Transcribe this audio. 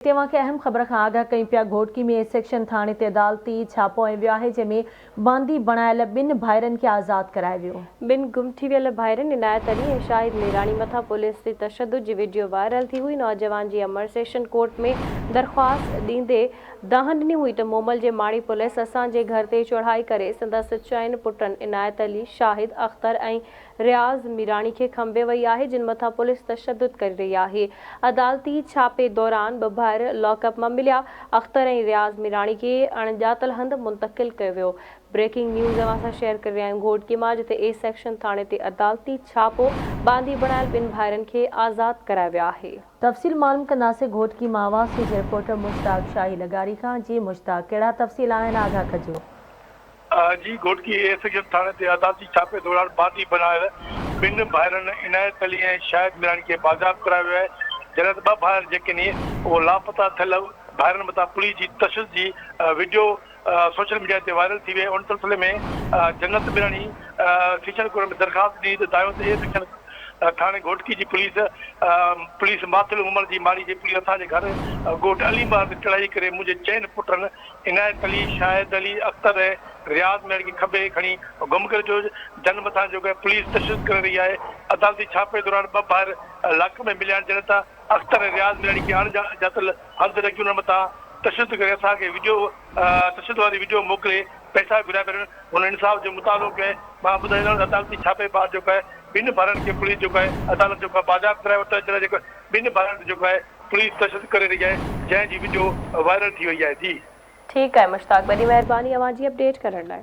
توهان کي اهم خبر کان آگاهه ڪيون پيا گهوٽڪي ۾ اي سيڪشن ٿاڻي تي عدالتي ڇاپو هنيو ويو آهي جنهن ۾ باندي بڻايل ٻن ڀائرن کي آزاد ڪرايو ويو. ٻن گم ٿي ويل ڀائرن عنايت علي ۽ شاهد ميراڻي مٿان پوليس جي تشدد جي وڊيو وائرل ٿي هئي نوجوان جي امڙ سيشن ڪورٽ ۾ درخواست ڏيندي دانهن ڏني هئي ته مومل جي ماڙي پوليس اسان جي گهر تي چڙهائي ڪري سندس چئن پٽن عنايت علي، شاهد، اختر ۽ رياض ميراڻي کي کنڀي وئي آهي جن مٿان پوليس تشدد ڪري رهي آهي عدالتي ڇاپي دوران ٻه ڀائر لاڪ اپ مان مليا اختر ۽ رياض ميراڻي کي اڻڄاتل هنڌ منتقل ڪيو ويو بريڪنگ نيوز اوهان سان شيئر ڪري رهيا آهيون گهوٽڪي مان جتي اي سيڪشن ٿاڻي تي عدالتي ڇاپو ٻانڌي بڻايل ٻن ڀائرن کي آزاد ڪرايو ويو آهي. تفصيل معلوم ڪنداسين گهوٽڪي مان اوهان سيج رپورٽر مشتاق شاهي لغاري کان جي مشتاق ڪهڙا تفصيل آهن آگاهه ڪجو. جي گهوٽڪي اي سيڪشن ٿاڻي تي عدالتي ڇاپي دوران بانڌي بڻايل ٻن ڀائرن عنايت علي ۽ شاهد ميراڻي کي بازياب ڪرايو ويو آهي جڏهن ته ٻه ڀائر جيڪني اهو لاپتا ٿيل ڀائرن مٿان پوليس جي تشدد جي وڊيو سوشل ميڊيا تي وائرل ٿي وئي ان سلسلي ۾ جنت ميراڻي سيشن ڪورٽ ۾ درخواست ڏني ته دايود اي سيڪشن ٿاڻي گهوٽڪي جي پوليس پوليس ماٿل عمر جي ماڙي جي پوليس اسان جي گهر ڳوٺ علي مار تي چڙهائي ڪري منهنجي چئن پٽن عنايت علي، شاهد علي، اختر ۽ رياض ميڙ کي کنڀي هيٺ کڻي گم ڪري ڇڏيو، جن مٿان جو ڪنهن پوليس تشدد ڪري رهي آهي، عدالتي ڇاپي دوران ٻه ڀائر لاڪ ۾ مليا آهن، جڏهن ته اختر ۽ رياض ميڙ کي اڻ ڄاتل هنڌ رکي انهن مٿان تشدد ڪري اسان کي وڊيو تشدد واري وڊيو موڪلي پئسا گهريا پيا وڃن، هن انصاف جو مطالعو ڪيو آهي، مان ٻڌائيندومانس ته عدالتي ڇاپي بعد جو ڪو آهي ٻن ڀائرن کي پوليس جو ڪو آهي عدالت جو ڪو آهي بازياب ڪرائي ورتو آهي، جڏهن جو ڪو آهي ٻن ڀائرن تي جو ڪو آهي. پوليس تشدد ڪري رهي آهي جنهن جي وڊيو وائرل ٿي وئي آهي ٿي. ٺيڪ آهي مشتاق وڏي مهرباني اوهان جي اپڊيٽ ڪرڻ لاء.